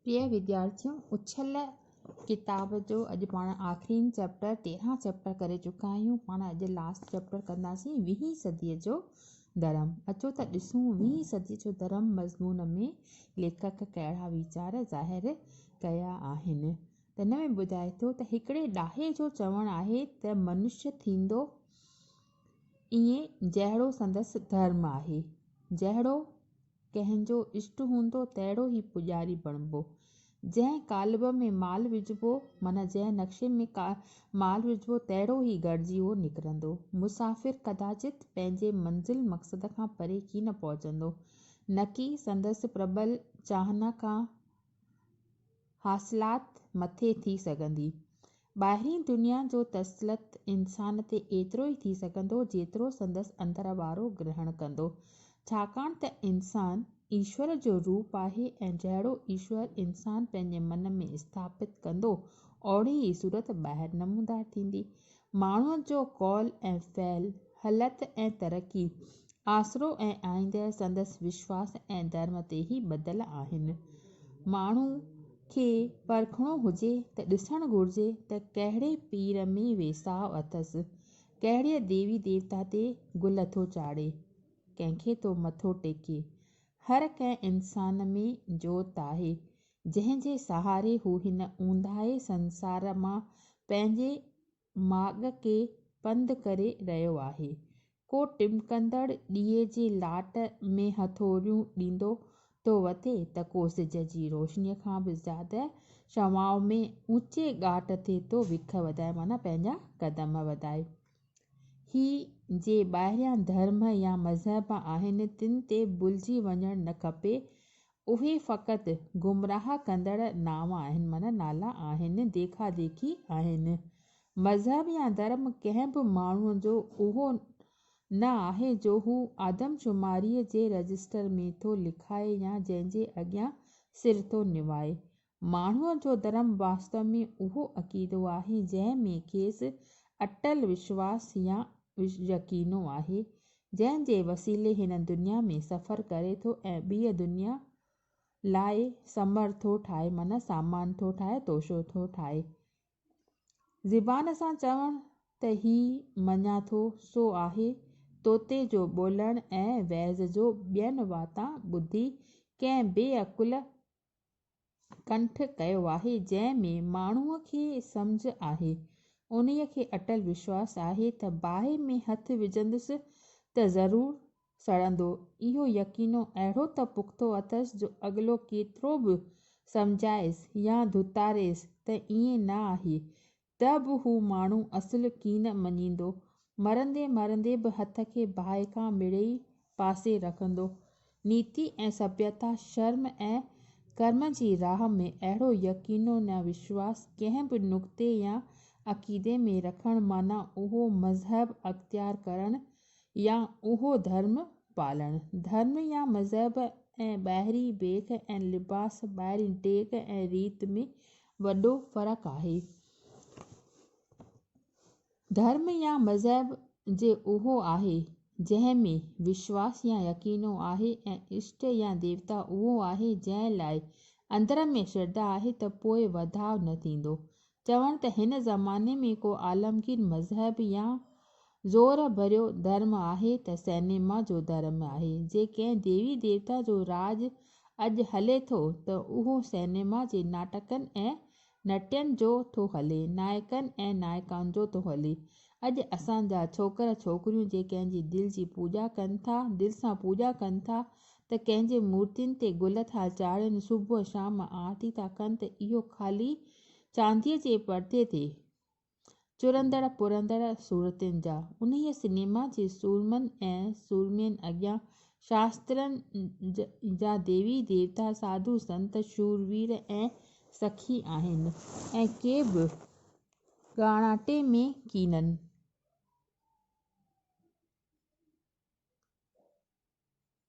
پريا وديارٿيو اڇل ڪتاب جو اڄ پاڻ آخرين چئپٽر تيرهن چئپٽر ڪري چڪا آهيون پاڻ اڄ لاسٽ چئپٽر ڪنداسين ويهين صدي جو ڌرم اچو ته ڏسون ويهين صدي جو ڌرم مضمون ۾ ليکڪ ڪهڙا ويچار ظاهر ڪيا آهن ته ان ۾ ٻڌائي ٿو ته هڪڙي ڏاهي جو چوڻ آهي ته منشي ٿيندو ائين جهڙو سندس ڌرم آهي جهڙو ڪنهن جو اشٽ هوندو تهڙو ئي پوڄاري بڻبو. جنهن قالب ۾ مال وجهبو، معنيٰ جنهن نقشي ۾ مال وجهبو تهڙو ئي گهڙجيو نڪرندو. مسافر ڪداچت پنهنجي منزل مقصد کان پري ڪين پهچندو، نڪي سندس پربل چاهنا کان حاصلات مٿي ٿي سگهندي. ٻاهرين دنيا جو تسلط انسان تي ايترو ئي ٿي سگهندو جيترو سندس اندر وارو گرهڻ ڪندو. ڇاڪاڻ ته انسان ايشور جو روپ آهي ۽ جهڙو ايشور انسان پنهنجي من ۾ اسٿاپت ڪندو اوڙي ئي صورت ٻاهر نمودار ٿيندي. ماڻهوء جو قول ۽ فعل، هلت ۽ ترقي، آسرو ۽ آئينده سندس وشواس ۽ ڌرم تي ئي ٻڌل آهن. ماڻهوء کي پرکڻو هجي ته ڏسڻ گهرجي ته ڪهڙي پير ۾ ويساهه اٿس، ڪهڙيء ديوي ديوتا تي گل ٿو چاڙهي، ڪنهن کي ٿو مٿو ٽيڪي. هر ڪنهن انسان ۾ جوت آهي، جنهن جي سهاري هو هن اونداهي سنسار مان پنهنجي ماڳ کي پنڌ ڪري رهيو آهي. ڪو ٽمڪندڙ ڏيئي جي لاٽ ۾ هٿوريون ڏيندو ٿو وتي ته ڪو سج جي روشنيء کان به زياده شعاعن ۾ اوچي ڳاٽ تي ٿو وک وڌائي معنيٰ پنهنجا قدم وڌائي. هي جي ٻاهريان ڌرم يا مذهب آهن تن تي ڀلجي وڃڻ نه کپي. اهي فقط گمراهه ڪندڙ نانء آهن معنيٰ نالا آهن، ديکا ديکي آهن. مذهب يا ڌرم ڪنهن به ماڻهوء جو اهو نه آهي جو هو آدمشماريء جي رجسٽر ۾ ٿو لکائي يا جنهن جي اڳيان سر ٿو نوائي. ماڻهوء جو ڌرم واستو ۾ اهو عقيدو آهي، جنهن ۾ کيس اٽل وشواس يا يقينو آهي، جنهن جي وسيلي هن دنيا ۾ سفر ڪري ٿو ۽ ٻيء دنيا لاء سمر ٿو ٺاهي، معنيٰ سامان ٿو ٺاهي، توشو ٿو ٺاهي. زبان سان چوڻ ته هي مڃان ٿو، سو آهي، طوطي جو ٻولڻ ۽ وعظ جو ٻين واتان ٻڌي ڪنهن بي عقل ڪنٺ ڪيو آهي جنهن ۾ ماڻهوء کي سمجهه آهي انهي کي اٽل وشواس آهي ته باهه ۾ هٿ وجهندس ته ضرور سڙندو اهو يقينو اهڙو ته پختو اٿس جو اڳلو ڪيترو به سمجهائيس يا ڌتاريس ته ائين نه آهي ته به هو ماڻهو اصل ڪين مڃيندو، مرندي مرندي به هٿ کي باهه کان مڙيئي پاسي رکندو. نيتي ۽ سڀيتا، شرم ۽ ڪرم جي راهه ۾ اهڙو يقينو نه وشواس ڪنهن به نڪتي يا عقيدي ۾ رکڻ معنيٰ اهو مذهب اختيار ڪرڻ يا اهو ڌرم پالڻ. ڌرم يا مذهب ۽ ٻاهرين بيک ۽ لباس، ٻاهرين ڊيگهه ۽ ريت ۾ وڏو فرق آهي. ڌرم يا مذهب جي اهو آهي جنهن ۾ وشواس يا يقينو آهي ۽ اشٽ يا ديوتا اهو آهي جنهن لاء اندر ۾ شرڌا آهي ته پوء وڌاء نه ٿيندو. چوڻ ته هن زماني ۾ ڪو عالمگير مذهب يا زور ڀريو ڌرم آهي ته سئنيما جو ڌرم آهي. جي ڪنهن ديوي ديوتا جو راڄ اڄ هلي ٿو ته اهو سئنيما جي ناٽڪن ۽ نٽين جو ٿو هلي، نائڪن ۽ نائڪائن جو ٿو هلي. اڄ اسان جا ڇوڪر ڇوڪريون جي ڪنهن جي دل جي پوڄا ڪن ٿا، دل سان پوڄا ڪن ٿا ته ڪنهن جي مورتين تي گل ٿا چاڙهين، صبح شام آرتي ٿا ڪن ته اهو خالي چانديء جي پردي تي، چرندڙ پرندڙ صورتين جا انهيء سينيما جي سورمن ۽ سورمين اڳيان شاسترن جا ديوي ديوتا ساڌو سنت شور وير ۽ سخي آهن ۽ ڪي به ڳاڻاٽي ۾ ڪينن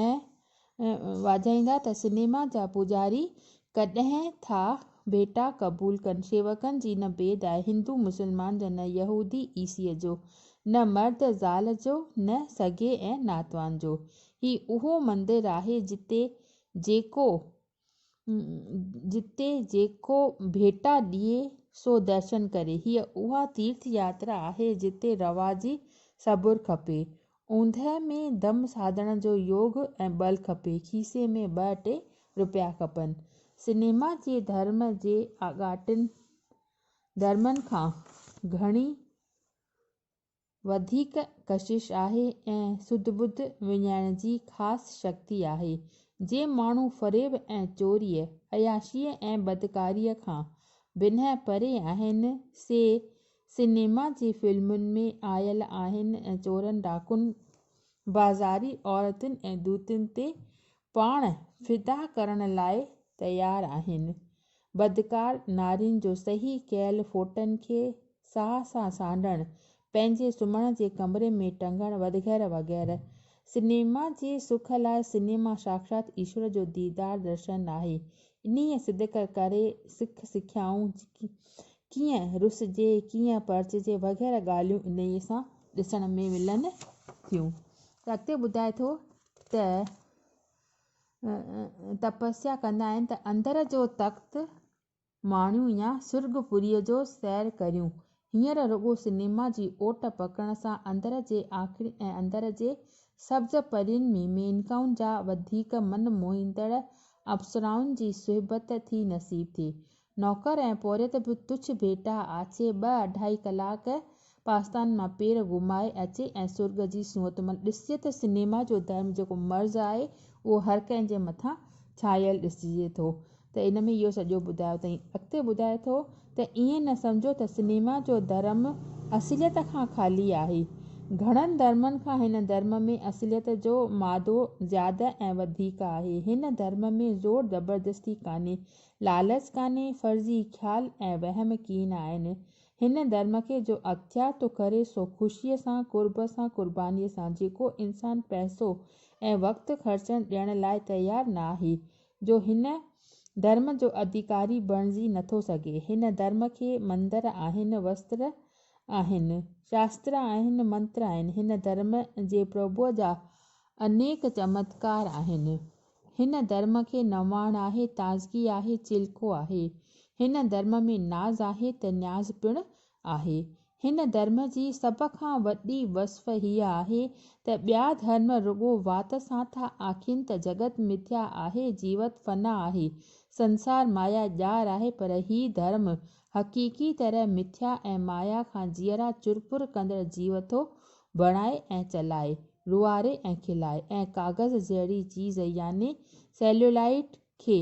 ۽ واجهائيندا ته سنيما جا پوڄاري ڪڏهن ٿا ڀيٽا قبول ڪن شيوڪن جي نه بيد آهي هندو مسلمان جو نه يهودي عيسيء جو نه مرد زال جو نه سگي ۽ ناتوان جو هي اهو مندر آهي جتي جيڪو جتي جيڪو ڀيٽا ڏئي سو درشن ڪري. هيء اها تيرٿ ياترا آهي جتي رواجي صبر کپي، اوندهه ۾ دم ساڌڻ جو يوگ ۽ بل کپي، کيسي ۾ ٻه ٽي رپيا کپن. سئنيما جي ڌرم جي آڳاٽن ڌرمن کان گهڻي وڌيڪ ڪشش آهي ۽ سڌ ٻڌ وڃائڻ جي خاص شڪتي آهي، جي ماڻهو فريب ۽ چوريء، عياشيء ۽ بدڪاريء کان بنهه پري آهن، سي سئنيما جي فلمن ۾ آيل آهن ۽ چورن ڊاڪن، بازاري عورتن ۽ دوتين تي پاڻ فدا ڪرڻ لاء تيار آهن. بدڪار نارين جو صحيح ڪيل ڦوٽن کي ساهه سان سانڍڻ، پنهنجي سمهڻ جي ڪمري ۾ ٽنگڻ ودغيره وغيره. سئنيما جي سک لاء سئنيما ساکشات ايشور جو ديدار درشن آهي. انهيء صدق ڪري سک سکيائون ڪيئن رسجي، ڪيئن پرچجي وغيره ڳالهيون انهيء سان ڏسڻ ۾ ملن ٿيون. اڳتي ٻڌائي ٿو ته تپسيا ڪندا آهن ته اندر جو تخت ماڻيون يا سرڳ پوريء جو سير ڪريون. هينئر رڳو سئنيما جي اوٽ پڪڙڻ سان اندر جي آکڙين ۽ اندر جي سبز پرين ۾ مينڪائن جا وڌيڪ من موهيندڙ اپسرائن جي صحبت ٿي نصيب ٿئي. نوڪر ۽ پورهيت به تڇ ڀيٽا آڇي ٻه اڍائي ڪلاڪ پاستان مان پير گهمائي اچي ۽ سرڳ جي سونهت ملي. ڏسجي ته سينيما جو ڌرم جيڪو مرض آهي اهو هر ڪنهن جي مٿان ڇانيل ڏسجي ٿو ته ان ۾ اهو سڄو ٻڌايو اٿئي. اڳتي ٻڌائي ٿو ته ائين نه سمجهو ته سينيما جو ڌرم اصليت کان خالي آهي. گهڻن ڌرمن کان هن ڌرم ۾ اصليت جو مادو زياده ۽ وڌيڪ آهي. هن ڌرم ۾ زور زبردستي ڪانهي لالچ ڪانهي، فرضي خيال ۽ وهم ڪين آهن. هن ڌرم کي جو اختيار ٿو ڪري سو خوشيء سان، قرب سان، قربانيء سان، جيڪو انسان پئسو ۽ وقت خرچڻ ڏيڻ لاء تيار ناهي، جو هن ڌرم جو اڌيڪاري بڻجي نٿو سگهي. هن ڌرم کي مندر آهن، وستر آهن، شاستر آهن، منتر آهن. هن ڌرم جي پرڀوء جا انيڪ چمتڪار آهن. هن درم کي نواڻ آهي، تازگي آهي، چيلڪو آهي. هن درم ۾ ناز آهي ته نياز پڻ آهي. هن درم جي سڀ کان وڏي وصف هيء آهي ته ٻيا ڌرم رڳو وات سان ٿا آکين ته جڳت مٿيا آهي، جيوت فنا آهي، سنسار مايا ڄار آهي پر هي ڌرم حقيقي طرح مٿيا ۽ مايا کان جيئرا چرپر ڪندڙ جيوتو بڻائي ۽ چلائي، روئاري ۽ کلائي ۽ ڪاغذ جهڙي چيز يعني سيليولائيڊ کي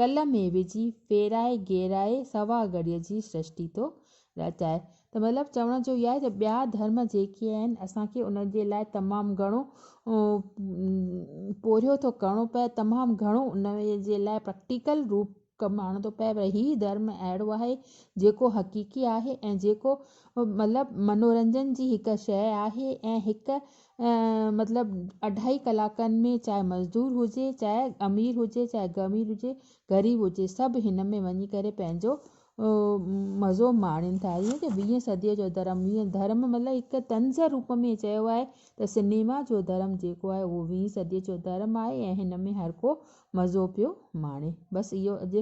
کل ۾ وجهي ڦيرائي گيرائي سوا گهڙيء جي سرشتي ٿو رچائي ته مطلب چوڻ جو اهو آهي ته ٻيا ڌرم جيڪي آهن اسان کي انهن جي لاء تمام گهڻو پورهيو ٿو ڪرڻو پئي تمام گهڻو انهن جي لاء پريڪٽيڪل روپ ڪم آڻڻ ٿو پئي پر هي ڌرم اهڙو آهي جيڪو حقيقي آهي ۽ جيڪو مطلب منورنجن جي هڪ شيء آهي ۽ هڪ مطلب اڍائي ڪلاڪن ۾ چاهي مزدور هجي چاهي امير هجي چاهي غمير هجي غريب هجي سڀ هن ۾ وڃي ڪري پنهنجو مزو ماڻين ٿا جيئن ته ويهين صديء جو ڌرم ويهين ڌرم مطلب هڪ طنز روپ ۾ چيو آهي ته سنيما جو ڌرم جيڪو آهي اهو ويهين صديء جو ڌرم آهي ۽ هن ۾ هر ڪو مزو پيو ماڻي بس اهو اڄ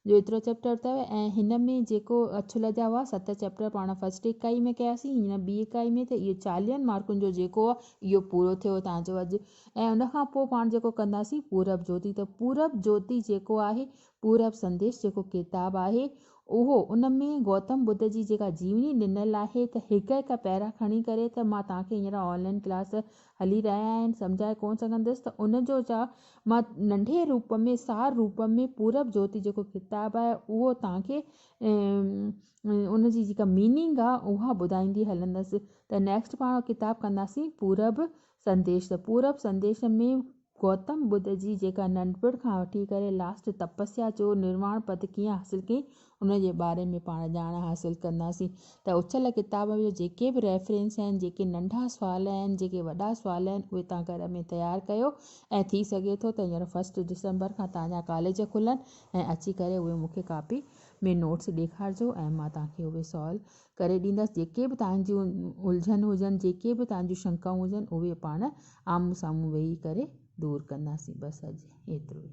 جو ايترو چيپٽر اٿو ۽ هن ۾ جيڪو اڇل جا هئا ست چيپٽر پاڻ فرسٽ اڪائي ۾ ڪياسين هن ٻي اڪائي ۾ ته اهو چاليهن مارڪن جو جيڪو آهي اهو پورو ٿيو تان جو اڄ ۽ ان کان پوء پاڻ جيڪو ڪنداسين پورب جوتي ته پورب جوتي جيڪو آهي پورب سنديش جيڪو ڪتاب آهي اهو ان ۾ گوتم ٻڌ جي جيڪا جيوني ڏنل آهي ته هڪ هڪ پيرا کڻي ڪري ته مان توهان کي هينئر آن لائن ڪلاس هلي رهيا آهن سمجهائي ڪونه سگهندس ته ان جو جا مان ننڍي روپ ۾ سار روپ ۾ پورب جوتي جيڪو ڪتاب آهي اهو توهان کي ان جي جيڪا ميننگ آهي اها ٻڌائيندي هلندس ته نيڪسٽ پاڻ ڪتاب ڪنداسين پورب سنديش ته پورب سنديش ۾ گوتم ٻڌ جي جيڪا ننڍپڻ کان وٺي ڪري لاسٽ تپسيا جو نرواڻ پد ڪيئن حاصل ڪيائين ان جي باري ۾ پاڻ ڄاڻ حاصل ڪنداسين ته اڇل ڪتاب جو جيڪي به ريفرنس آهن، جيڪي ننڍا سوال آهن، جيڪي وڏا سوال آهن اهي توهان گهر ۾ تيار ڪيو ۽ ٿي سگهي ٿو ته هينئر فرسٽ ڊسمبر کان توهان جا ڪاليج کلن ۽ اچي ڪري اهي مون کي ڪاپي ۾ نوٽس ڏيکارجو ۽ مان توهان کي اهي سالو ڪري ڏيندس جيڪي به توهان جون الجهن هجن، جيڪي به توهان جون شنڪائون هجن اهي پاڻ آمهون سامهون ويهي ڪري دور ڪنداسين بس اڄ ايترو ئي.